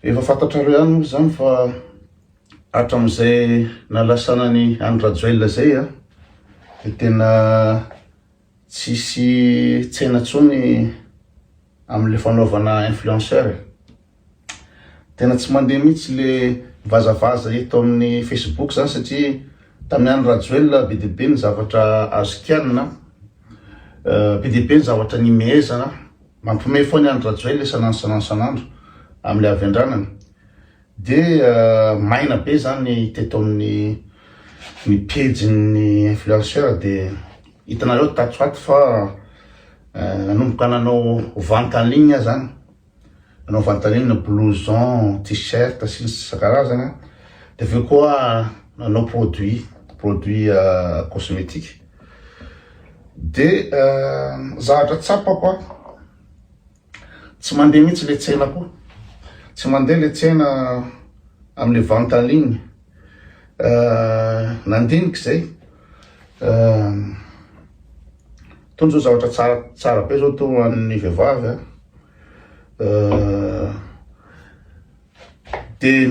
Efa fantatrareo ihany moa izany fa hatramin'izay nalasana an'i Andry Rajoelina izay a, dia tena tsisy tsena intsony amin'ilay fanaovana influenceur e. Tena tsy mandeha mihitsy le vazavaza eto amin'ny Facebook zany satria tamin'i Andry Rajoelina be dia be ny zavatra azo kianina, be dia be ny zavatra nimehezana. Mampihomehy foana an Rajoel le sanansanan sanandro amle avy andranana de maina be zany teto aminy ny pejy ny influenceur de hitanareo tato ho ato fa nanomboka nanao vente en ligne aza an nanao vente en ligne blouson t-shirt sy ny sisa isan-karazany de aveo koa nanao produit produit cosmetique Dia zavatra tsapako an, tsy mandeha mihitsy ilay tsena koa, tsy mandeha ilay tsena amin'ilay vente en ligne, nandinika izay, toa izao zavatra tsara tsara be izao toa ho an'ny vehivavy an. Dia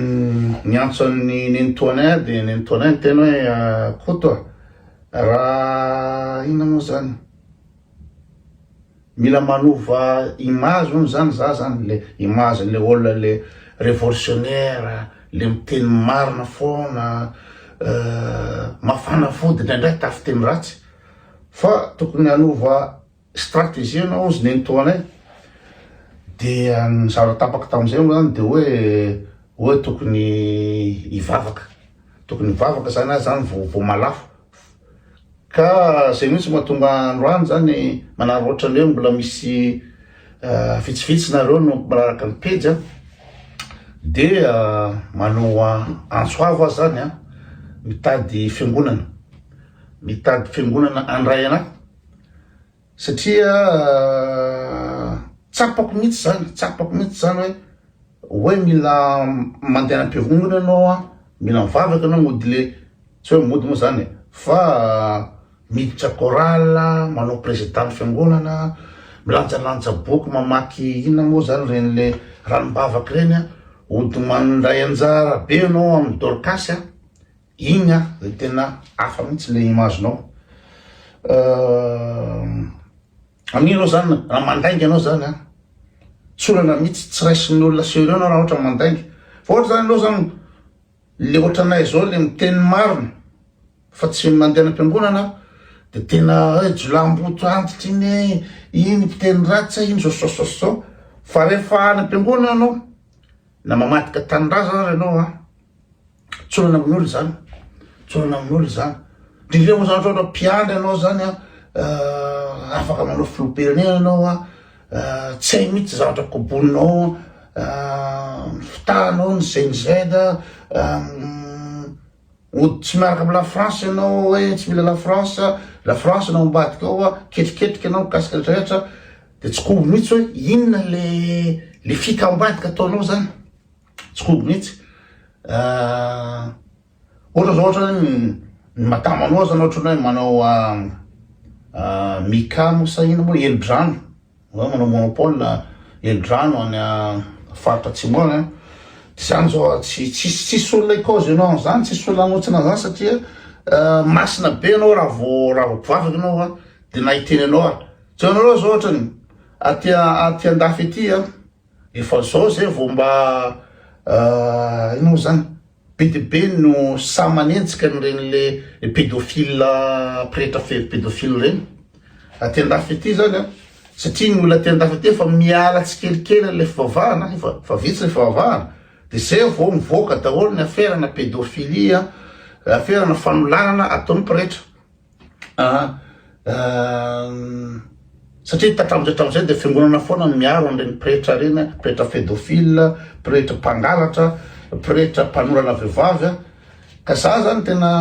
niantso an'i Nenitoany ahy, dia Nenitoany ahy niteny hoe, Koto a! Raha inona moa izany? Mila manova image hono izany izaho izany, ilay image-n'ilay olona ilay révolutionnaire, ilay miteny marina foana, mafana fo, dia indraindray tafiteny ratsy, fa tokony hanova. Stratégie anao ozy nenitoa anay dia ny zavatra tapaka tamin'izay moa zany dia hoe hoe tokony hivavaka tokony hivavaka zany aza zany vao vao malafo ka zay mihitsy mahatonga androany zany manary ohatrany hoe mbola misy vitsivitsy nareo no mpiaraka ny pejy a dia manoa antso avo aho zany a mitady fiangonana mitady fiangonana andray anay satria tsapako mihitsy zany tsapako mihitsy zany hoe hoe mila mandeha am-piavongana ianao a mila mivavaka ianao mody le tsy hoe mody moa zany e fa miditra chorale manao président fiangonana milanjalanja boky mamaky inona moa zany reny le ranom-bavaka reny a hody mandray anjara be ianao amin'ny dorcas a Igny a le tena hafa mihitsy le image nao Amin'igny anao zany raha mandainga anao zany a tsy olana mihitsy tsy raisin'ny olona sérieux anao raha ohatra mandainga fa ohatra zany anao zany le ohatranay zao le miteny marina fa tsy mandeha any am-piangonana aho de tena hoe jiolahimboto antitra iny e iny mpiteny ratsy e iny zao zao zao zao fa rehefa any am-piangonana anao na mamadika tanindrazana ary anao a Tsorana amin'olo izany, tsorana amin'olo izany. Ndrindra moa zany ohatra mpiandry anao zany an, eh, afaka manao filoham-pirenena anao an, eh, tsy hay mihitsy zavatra koboninao, eh, ny fitahanao, ny GNZ, hody tsy miaraka amin'ny la France ianao hoe tsy mila la France, la France no ao ambadikao an, ketriketrika ianao mikasika ny rehetra, dia tsy kobo mihitsy hoe inona le le fika ao ambadika ataonao zany. Tsy kombo mihitsy. Ohatra zao ohatra hoe ny madama anao zany ohatra hoe manao Mika moa sa ino moa helodrano, hoe manao monopole helodrano any faritra atsimo any an, de zany zao an, tsy tsisy tsisy olona hikôzy anao an'zany, tsisy olona hanohitsina an'zany satria masina be anao raha vao raha vao mpivavaka anao an, de na hiteny anao ary, jereo anareo zao ohatra ny aty aty andafy aty an. Efa zao zay vao mba ah ino moa zany be dia be no sahy manenjika an'ireny le pédophile pretra fefy pédophile ireny aty andafy aty zany an satria ny olona aty andafy aty efa miala tsikelikely an'ilay fivavahana efa efa vitsy le fivavahana de zay vao mivoaka daholo ny aferana pédophilie aferana fanolanana ataon'ny pretra Aa satria tatramotra hatramin'izay dia fiangonana foana no miaro an'ireny pretra ireny a, pretra pédophile, pretra mpangalatra, pretra mpanorana vehivavy a, ka za zany tena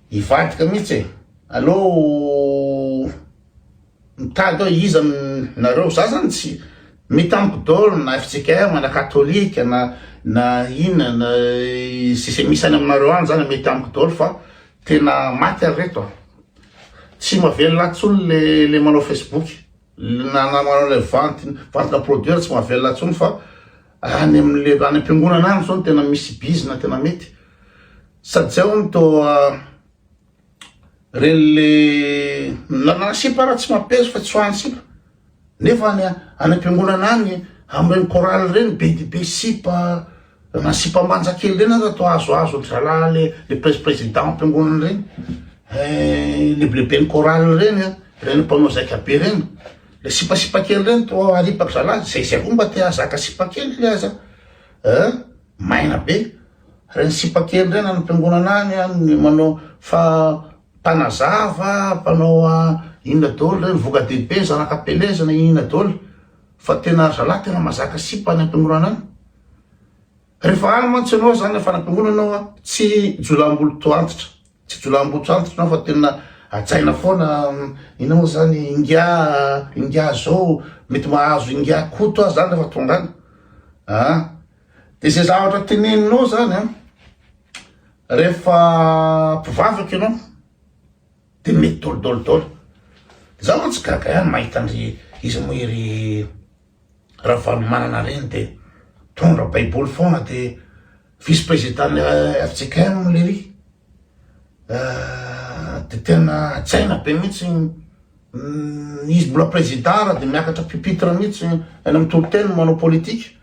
hivadika mihitsy e, aleo. Mitady hoe iza aminareo, za zany tsy mitamiko dol na FJKM na katolika na na inona na ze ze misy any aminareo any zany mety amiko dol fa tena maty ary reto a! tsy mavelona tsony le le manao facebook na na manao le vente vente na produire tsy mavelona tsony fa any am le any am-piangonana any zao no tena misy bizina tena mety sady zay hono toa Reny le nanana sipa raha tsy mampiaizo fa tsy ho any sipa. Nefa any any am-piangonana any amin'ireny chorale ireny be dia be sipa na sipa manja kely ireny aza toa azoazo an-dry zalahy le le pres- président am-piangonana ireny eh, lebileben'ny chorale ireny an, ireny mpanao zaika be ireny, le sipasipa kely ireny toa aripak'i zalahy, zay zay koa mba te hahazaka sipa kely le aza eh, Maina be. Reny sipa kely reny any am-piangonana any an, ny manao fa mpanazava, mpanao inona daholo reny, voka-dehibe, zanaka am-pelezana, inona daholo. Fa tena ry zalahy tena mazaka sipa any am-piangonana any. Rehefa any mantsy ianao izany rehefa any am-piangonana ianao an, tsy jolaham-boloto antitra, tsy jolaham-boloto antitra ianao fa tena hajaina foana, inona moa izany, ingahy, ingahy izao, mety mahazo ingahy Koto aza izany rehefa tonga any. Dia izay zavatra teneninao izany an, rehefa mpivavaka ianao dia mety dolidoly daholo. Dia za mantsy gaga ihany mahita an'ry izy moa iry Ravalomanana ireny dia mpitondra baiboly foana dia vice président FJKM lery. dia tena hajaina be mihitsy izy mbola président ary dia miakatra pupitre mihitsy any amin'ny toriteny manao politique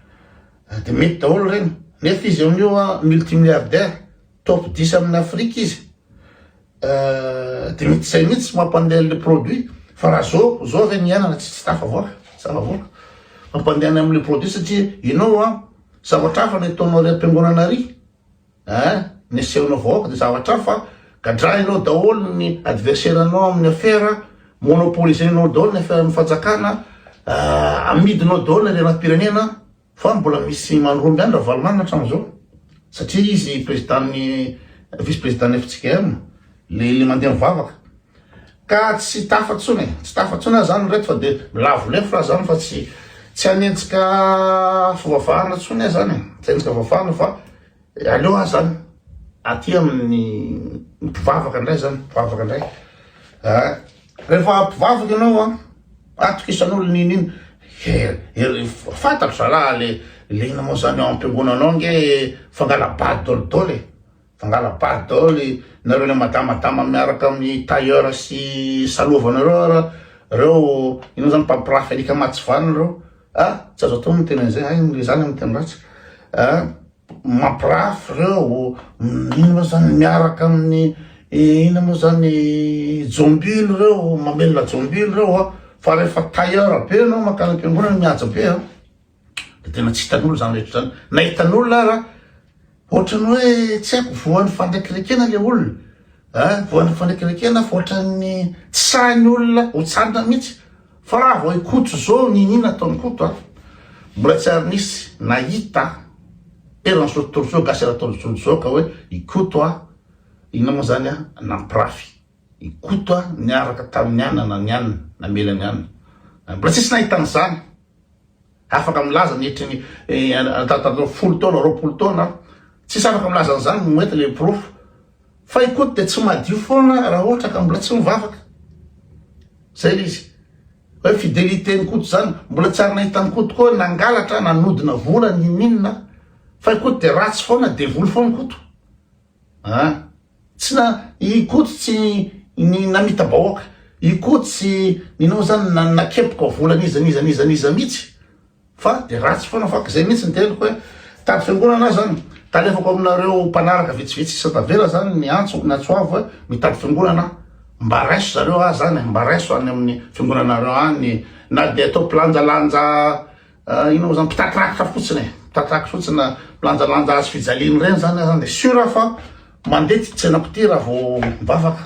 dia mety daholo ireny nefa izy amin'io multimilliardaire top 10 amin'ny Afrique izy dia mety izay mihitsy mampandeha le produit fa raha zao zao ve ny iainana tsy tsy tafavoaka zavavoaka mampandehana amin'le produit satria ianao a zavatra hafa ny ataonao ry am-piangonana ry Eeh ny asehonao vahoaka dia zavatra hafa, gadrainao daholo ny adversaire nao amin'ny affaire, monopoliser-nao daholo ny affaire-n'ny fanjakana, amidinao daholo ny harenam-pirenena, fa mbola misy mandromby any Ravalomanana hatramin'izao satria izy président-n'ny vice président-n'ny FJKM, le mandeha mivavaka. Ka tsy tafa tsony e, tsy tafa tsony aza zany reto fa de milavo lefy ra zany fa tsy tsy hanenjika fivavahana tsony aza zany e, tsy hanenjika fivavahana fa aleo aza zany aty amin'ny mpivavaka ndray zany, mpivavaka ndray ah, rehefa mpivavaka ianao an, atokisanao n'ino n'ino, eh, fantatro zalaha le le inona moa zany ao am-piangonanao nge fangala-bady dolidoly e. Fangalam-paty daholo e, nareo le madamadama miaraka amin'ny tailleur sy salovanareo ara reo inona zany mpampirafy alika matsivana reo ah tsy azo atao ny miteny an'izay hay ny zany amin'ny teny ratsy ah mampirafy reo ino moa zany miaraka amin'ny ina moa zany jombilo reo mamelona jombilo reo a fa rehefa tailleur be anao makany am-piangonana mihaja be a de tena tsy hitan'olo zany rehetra zany na hitan'olona ara ohatrany hoe tsy haiko voan'ny fandraikirekena le olona a voan'ny fandraikirekena fa ohatran'ny tsy sahin'ny olona ho tsanona mihitsy fa raha vao ikoto zao ninina ataon'ny koto a mbola tsy ary nisy nahita eran'ny zao tontolo zao gasy eran'ny taolo zao ka hoe ikoto a inona moa zany a nampirafy I Koto niaraka tamin'i Anna na ny Anna namela an'i Anna. Mbola tsisy nahitana izany. Afaka milaza ny hetra ny tatatatato folo taona, roapolo taona aho. Tsisy afaka milaza an'izany no mety ilay porofo. Fa i Koto dia tsy madio foana raha ohatra ka mbola tsy mivavaka. Izay ilay izy. Hoe fideliten'i Koto izany. Mbola tsy ary nahita an'i Koto koa nangalatra, nanodina vola, ninoninona. Fa i Koto dia ratsy foana, devoly foana i Koto. A, Tsy na i Koto tsy ny namita-bahoaka, i Koto tsy ninao izany na nakepoka vola n'iza n'iza n'iza n'iza mihitsy fa dia ratsy foana fa izay mihitsy ny teniko hoe tady fiangonana aza an, talefako aminareo mpanaraka vitsivitsy sisa tavela izany ny antso na tso avo hoe mitady fiangonana aho mba raiso zareo ahy izany e, mba raiso any amin'ny fiangonanareo any na dia atao mpilanjalanja Inona moa zany mpitatraka fotsiny e, mpitatraka fotsiny milanjalanja hazo fijaliany reny zany aza de sur aho fa mandeha ty tsena pitihy raha vao mivavaka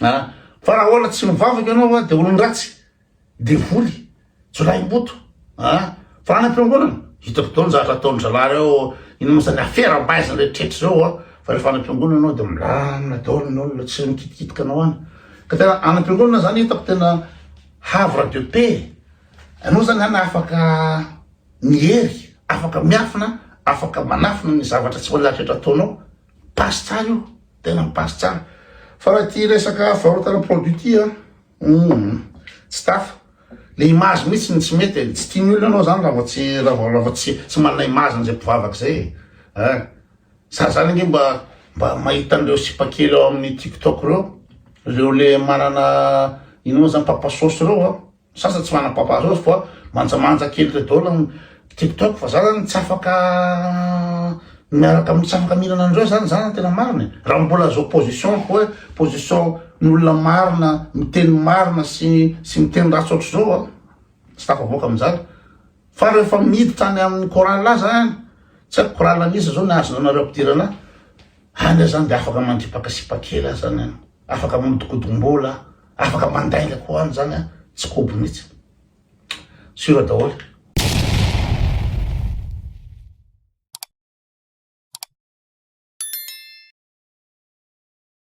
a, fa raha ola tsy mivavaka ianao a de olon-dratsy, devoly, jiolahimboto a, fa any am-piangonana hitako daholo ny zavatra ataon'ny zalahy reo, inona moa zany afera am-baizina rehetrretra zao a, fa refa any am-piangonana ianao de milamina daholo ny olona tsy mikitikitika anao any, ka tena any am-piangonana zany hitako tena havre de paix. Ianao zany an afaka miery, afaka miafina, afaka manafina ny zavatra tsy voalahatra eto ataonao, passe tsara io, tena mi-passe tsara. Fa raha ity resaka fivarotana produit ity an, humm, tsy tafa. Le image mihitsy no tsy mety e, tsy tian'ny olona ianao zany raha vao tsy, raha vao, raha vao tsy, tsy manana image an'izay mpivavaka izay e, ah. Za zany ange mba, mba mahita an'ireo sipa kely ao amin'ny tiktok ireo, ireo le manana, ino moa zany, papa sauce ireo an. Ny sasany tsy manana papa rose fa manjamanja kely ireo daholo ny tiktok fa za zany tsy afaka miaraka tsy afaka mihinana an'ireo zany za ny tena marina e, raha mbola zao position-ko hoe position-n'olona marina miteny marina sy sy miteny ratsy ohatr'izao a tsy tafavoaka amin'izany fa rehefa miditra any amin'ny chorale aza any tsy haiko chorale an'iza zao ny azonareo ampidirana any aza zany de afaka mandripaka sipa kely aza any an. Afaka mamodokodombola, afaka mandainga koa any zany an, tsy kobo mihitsy. Sur daholo.